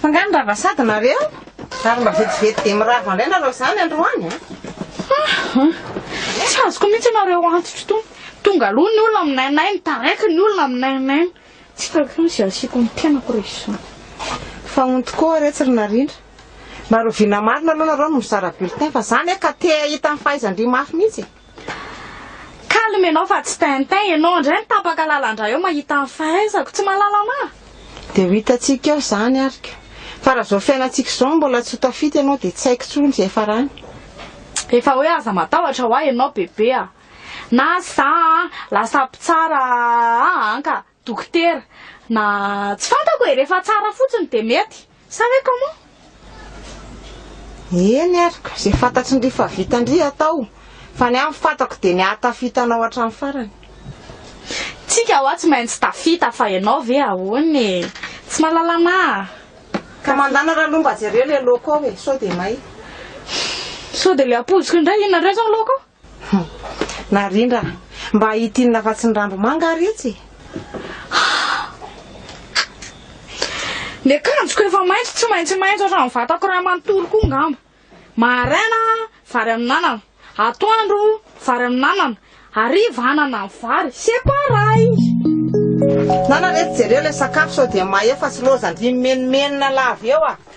Fa nga nirava sady nareo? Ary mba vetivety dia mirava ndray nareo zany androany a? Tsy azoko mihitsy nareo antitro tony. Tonga aloha ny olona minainay, mitaraiky ny olona minainay. Tsy hitako intsony izay asiako ny tenako rehefa izany. Fa honty koa re tsy ry narindra. Mba rovina marina aloha nareo no mizara bulletin fa za anie ka te hahita ny fahaizan-dry mafy mihitsy e. Calme ianao fa tsy tintin ianao, indray mitapaka lalandra eo mahita ny fahaizako, tsy mahalala anah? Dia ho hitantsika eo izany ary ka. Fa raha izao fiainantsika izao no mbola tsy ho tafita ianao dia tsy haiko intsony izay farany. Efa hoe aza matahotra hoa ianao bebe a! Na za a! Lasa mpitsara a! An ka! Dokotera, Na tsy fantako e, rehefa tsara fotsiny dia mety, sa hoe comment? Eny ary ka, izay fantatry ndry fa vita ndry atao, fa ny ahy ny fantako dia ny hahatafita anao hatramin'ny farany. Tsika hoa tsy maintsy tafita fa ianao ve ahoana e? Tsy mahalala anah. Ka mandana raloha mba jereo ilay loco ao e, sao dia may. Sao dia ilay ampoziko indray, inona indray izao ny loco? Hum. Narindra a! Mba hitinina fa tsy ny randomanga ary etsy e! Ny akanjoko efa maitso tsy maintsy maitso hatramin'ny vatako iray manontolo koa angamba. Maraina vary amin'anana, atoandro vary amin'anana, hariva anana amin'ny vary. C'est pareil! Nana re jereo ilay sakafo sao dia mahefa sy loza ndry mimenomenona lava eo a!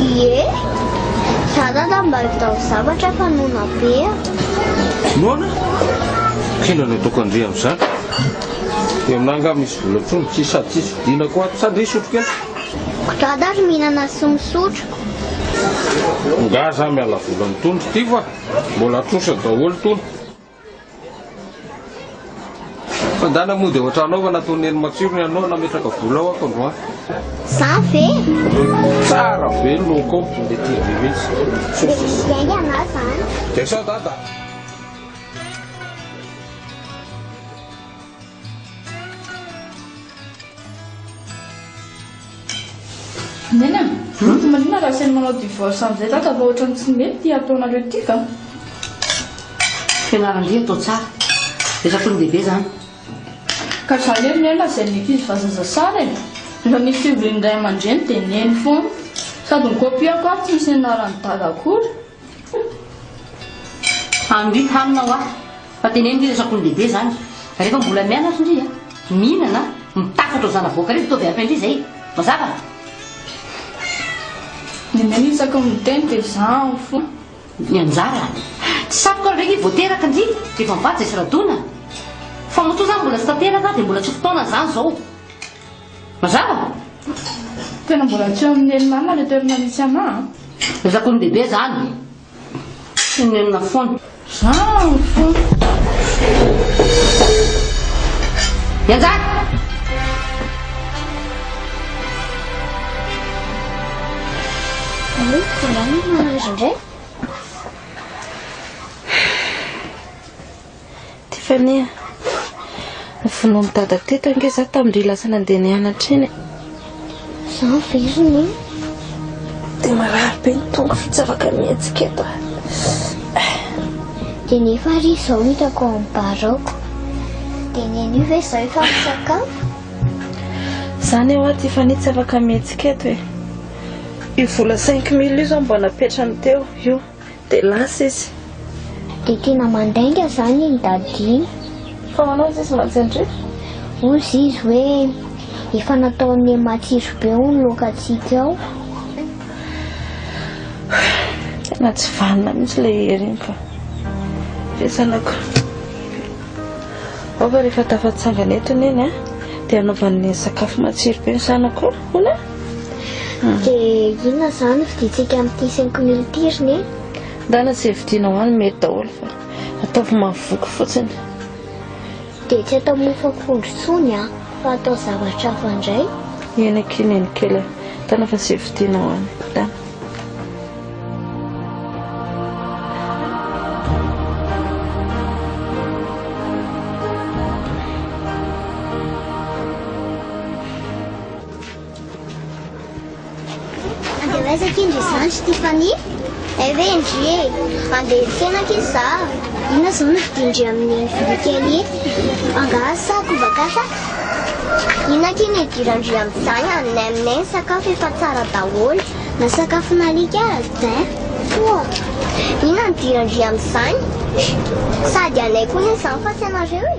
Ie, za dada mba vidao zavatra fa noana be a! Noana? Tsinona no ataoko an-dry amin'izany? Dia aminà angaha misy vola intsony? Tsisy sady tsisy vidiana koa ato. Sa ndry hisotro kely? Ko dada ary mihinana sy misotro. Angaha za miala vola mitondra ity fa mbola trosa daholo tony. Fa ndana moa dia ohatra anao fa nataon'i Neny matsiro ny anao nametraka vola ao ato androany. Za ve? Tsara be ny look ao dia tia be mihitsy. Dia izay ny anao zany. Dia sao dada? Neny a! Tsy marina raha asainy manao divorce amin'izay dada fa ohatran'ny tsy mety ity ataonareo ity ka! Fianaran-dia atao tsara. Efa tonga lehibe izany. Ka zany hoe Nena izay mety izy fa zaza sara e! Rehefa misy fivorian'ny ray aman-dreny dia Neny foana. Sady mi-copier koa ary tsy misy nianaran'i Dada akory. Andry hanina hoa fa teneno ndry razako ny lehibe zany refa mbola mianatra ndry a mihinana a mitafatra ho zanavoaka reto ataovy araka ndry zay mazava? Ny anay isaky ny miteny dia zaho fona. Ny anjara. Tsy saroka ndray nge voateraka ndry refa mivady zay sy radona. Fa matoa zany mbola tsy tanteraka dia mbola tsy fotoana zany zao. Mazava? Tena mbola tsy amin'ny nen'i mama le toerana misy anah an. Ezako ny bebe zany. Tsy ny nenina foana. Zany foana. Ianjady! Allo, angamba mahazo indray? Tiffany a! Novonoin'i Dada teto ange za tamin-dry lasa nandeha nianatra iny e! Izaho ve izany e? Dia marary be ny tongoko tsy afaka mihetsika eto a! Dia nefa ary izao hitako ao amin'ny bar ao ko! Dia ny anio ve izaho efa misakafo? Izany ho'a Tiffany tsy afaka mihetsika eto e! Io vola cinq mille io izao mba napetrany teo io! Dia lasa izy. Dia tena mandainga izany iny dada iny. Fa manao izy izy mantsindriaka? Hozy izy hoe efa nataon'ny matsiro be ho ny lokantsika ao. Tena tsy vanona mihitsy ilay hery iny fa. Ve zanako. Ao fa rehefa tafatsangana eto neny dia hanaovan'ny sakafo matsiro be ny zanako. Hola. Dia inona izany no fidintsika amin'ity cinq mille ity ry neny? Ndana izay vidinao any mety daholo fa ataovy mahavoky fotsiny. Dia tsy atao mofo akondro intsony an, fa atao zavatra hafa indray. Eny akia neny kely an, ndana fa izay vidinao any, ndana. Andeha ho aiza akia ndry izany ry Tiffany? Hay ve ndry e! Andeha hiely tena akia za. Inona izao no vidiana ndry amin'iny vilia kely iny? Angaha sa koba gasy a? Inona akia ny hidiran ndry amin'izany a? Nay aminay ny sakafo efa tsara daholo. Na sakafon'alika aza tin! Toa! Inona no hidiran ndry amin'izany? Sady anay koa anie izany fa tsy anareo e!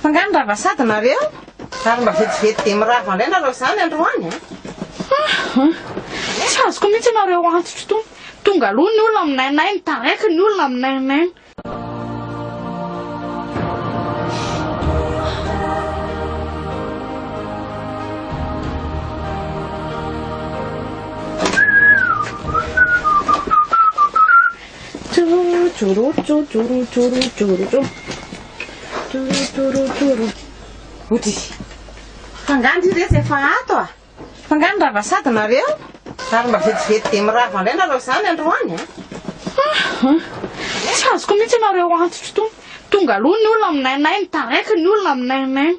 Fa nga nirava sady nareo? Ary mba vetivety dia mirava indray nareo izany androany an! Tsy azoko mihitsy ianao ireo antitro itony. Tonga aloha ny olona minainaina, taraiky ny olona minainaina. Joro, joro, joro, joro, joro, joro. Torotorotoron. Oty. F'angaha ndry reto efa ato a? F'angaha nirava sady nareo? Ary mba vetivety dia mirava indray nareo zany androany a? Hum. Tsy azoko mihitsy nareo antitro tony. Tonga aloha ny olona minainaina, taraiky ny olona minainaina.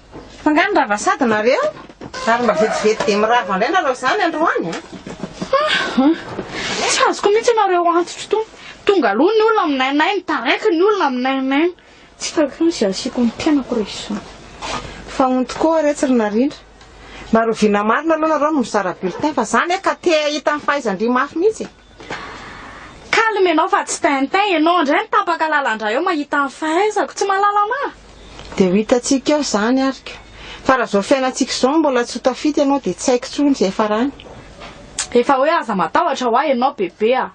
Fa nga nirava sady nareo? Ary mba vetivety dia mirava ndray nareo zany androany a? Ahh! Tsy azoko mihitsy nareo antitro tony. Tonga aloha ny olona minainaina, taraiky ny olona minainaina. Tsy hitako intsony izay asiako ny tenako rehefa izany. Fa honty koa re tsy ry narindra. Naroviana marina aloha nareo no mizara bulletin fa za anie ka te hahita ny fahaizan-dry mafy mihitsy e. Calme ianao fa tsy tintin ianao indray mitapaka lalandra eo mahita ny fahaizako. Tsy mahalala anah? Dia ho hitantsika eo izany ary ka. Fa raha izao fiainantsika izao mbola tsy ho tafita ianao dia tsy haiko intsony izay farany. Efa hoe aza matahotra hoa ianao bebe a.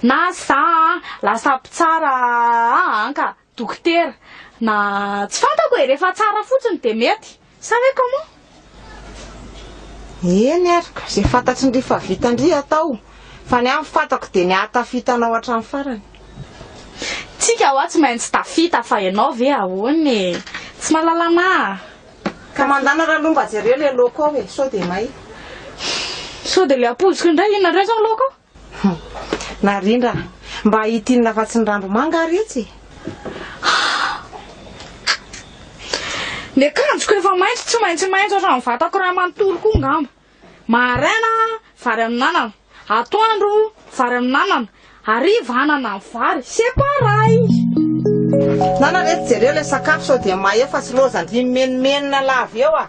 Na za a, lasa mpitsara a an ka. Dokotera, na tsy fantako e, rehefa tsara fotsiny dia mety sa hoe comment? Eny ary ka, izay fantatry-ndry fa vitan-dry atao, fa ny ahy ny fantako dia ny hahatafita anao hatramin'ny farany. Tsika hoa tsy maintsy tafita fa ianao ve ahoana e? Tsy mahalala anah. Ka mandana raha lo mba jereo le loco ao e, sao dia may. Sao dia le ampoziko indray, inona indray zao ny loco ao? Hum. Narindra a! Mba ity inona fa tsy ny rambo manga ary itsy? Ny akanjoko efa maitso tsy maintsy maitso hatramin'ny vatako iray manontolo koa angamba. Maraina vary amin'anana, atoandro vary amin'anana, hariva anana amin'ny vary. C'est pareil! Nana re jereo ilay sakafo sao dia mahefa sy loza ndry mimenomenona lava eo a!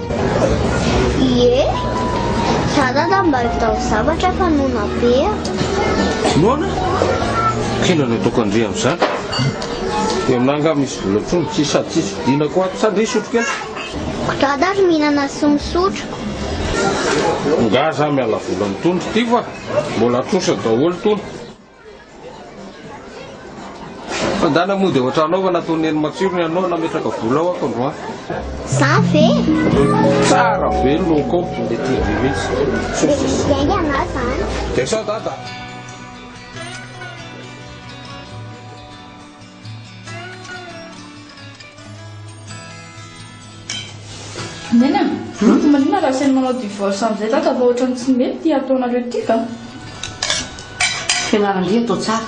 Ie, za dada mba vitao zavatra fa noana be a! Noana? K'inona no ataoko an-dry amin'izany? Dia aminà angaha misy vola intsony tsy sady tsisy vidiana koa ato sa ndry hisotro kely? Ko dada ary mihinana sy misotro. Angaha za miala vola amin'itony ry tivo a! Mbola trosa daholo itony. Fandana mody ao an-trano ao fa nataon'i Neny matsiro ny anao nametraka vola ao ako androany. Za ve? Tsara be no kaopy le TV mihitsy. Miainga anao zany. Dia sao dada? Nena, fa maninona raha asainy manao divorce amin'izay dada fa ohatran'ny tsy mety ity ataonareo ity ka. Fianaran-dia atao tsara.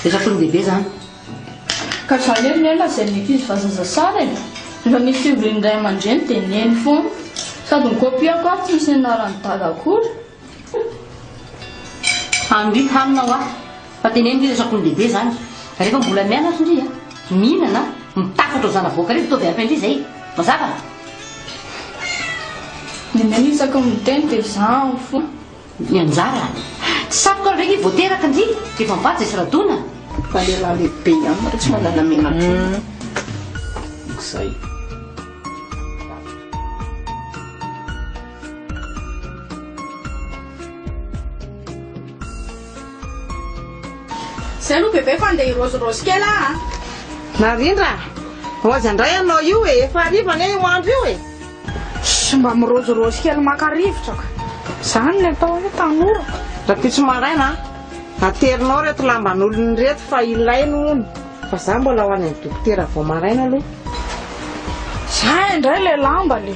Efa tondehibe izany. Ka za lery Nena izay mety izy fa zaza sara e. Rehefa misy fivorian'ny ray aman-dreny dia neny foana. Sady ny kopiako ary tsy misy nianaran'i dada akory. Andry hanina hoa fa teneno ndry resako ny lehibe zany refa mbola mianatra ndry a mihinana a mitafatra ho zanavoaka reto ataovy hafa indry zay mazava? Ny nenao isaky ny miteny dia zaho fona. Ny anjara. Tsy saroka ndray nge vao teraka ndry refa mivady zay sy radona. Fa lehilahy lehibe ihany nareo tsy manana menatra. Zay. Zay aloha bebe fa ndeha hirôzirôzy kely ah a! Narindra a! Ho aiza indray ianao io e? Efa hariva anie io andro io e! Shh! Mba mirôzirôzy kely maka rivotra ka! Izany ny atao hoe tanora ka! Rahampitso maraina a! Aterinao ireto lamban'olona ireto fa ilainy hono fa za mbola ho any amin'ny dokotera vao maraina aloha. Za indray ilay lamba le!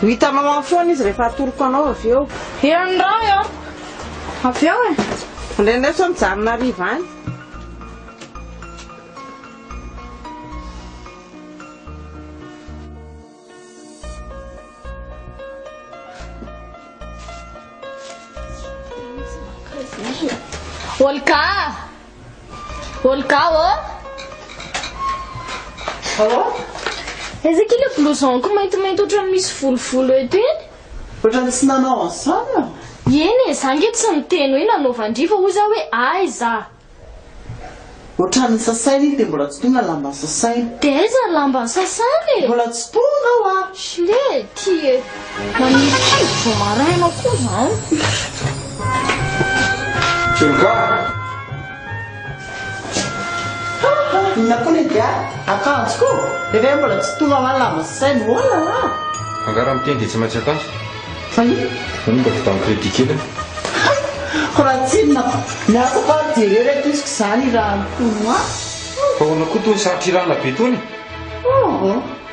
Ho hitanao any foana izy rehefa atoroko anao avy eo. Eo ny rano eo. Avy eo e. Andrianireo sao mijanona hariva any. Olga a! Olga ô! Allô? Aiza akia ilay blouson-ko maintimainty ohatran'ny misy volovolo eto iny? Ohatran'ny tsy nanao an'izany aho. Eny e, za ange tsy niteny hoe nanaovan-dry fa hoy za hoe aiza? Ohatran'ny sasaina iny dia mbola tsy tonga ny lamban'ny sasaina. Dia aiza ny lamban'ny sasana e? Mbola tsy tonga aho a! Shlee, ty e! Maniry taiza vao maraina koa zany. Tsoga. Inona koa ny dia akanjo ko. Rehefa mbola tsy tonga amin'ny lamba sy saina. Oh là là. Angara miteny dia tsy maintsy akanjo. Fa inona? Zany mba vitan'ny crédit kely an. Ko raha tsinona ko. Miasa fa jereo ry ankiziko izany hirahana tonoa. Fa ahoana koa itony sarotra hirahana be itony? Oh oh.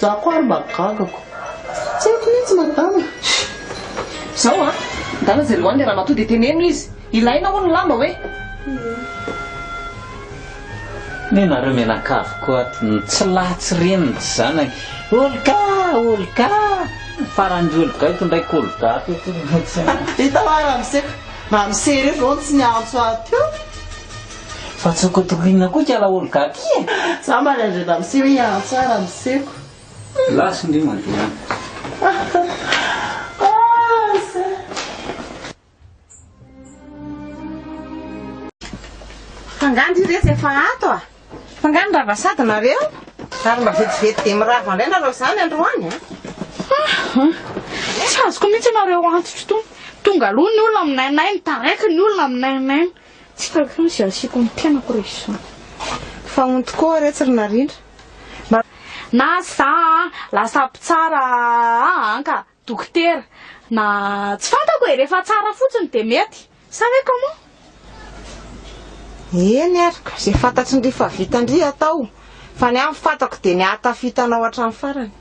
Za koa ary mba gaga ko. Tsy haiko mihitsy madama. Zao a, ndana zay lohan'ilay ramatoa dia teneno izy, ilaina hono ny lamba hoe. Neh nareo mianakavy ko ato no tsy lahy tsy reny ny zanany, olga olga, farany ry olga eto ndray ko olga ko eto. Vita hoa ramose, ramose re vao tsy niantso ahy teo. Fa tsy ho kotokoinina koa ikala oligarchie e! Za mba nandrena miseho i Antsa raha miseko. Last ndry Fa nga ndry retsy efa ato a! Fa nga nirava sady nareo? Ary mba vetivety dia mirava ndray nareo zany androany a! Tsy azoko mihitsy nareo antso tsy tony. Tonga aloha ny olona minainaina, taraiky ny olona minainaina. Tsy hitako intsony izay asiako ny tenako re zony fa on tokoa re tsy ry narindra mba. Na za a lasa mpitsara a anka dokotera na tsy fantako e rehefa tsara fotsiny dia mety sa ve comment? Eny ary ko izay fantatry ndry fa vitan-dry atao fa ny ahy ny fantako dia ny hahatafita anao hatramin'ny farany.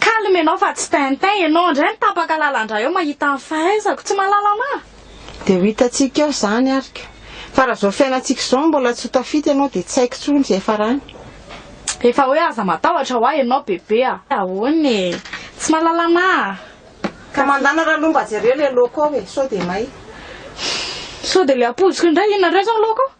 Calme ianao fa tsy tintin ianao, indray mitapaka lalandra eo mahita ny fahaizako, tsy mahalala anah? Dia ho hitantsika eo izany ary ka. Fa raha izao fiainantsika izao mbola tsy ho tafita ianao dia tsy haiko intsony izay farany. Efa hoe aza matahotra ho ahy ianao bebe a! Ahoana e! Tsy mahalala anah? Ka mandana raha aloha mba jereo ilay loco ao e, sao dia may. Sao dia ilay ampoziko indray inona indray izao ny loco?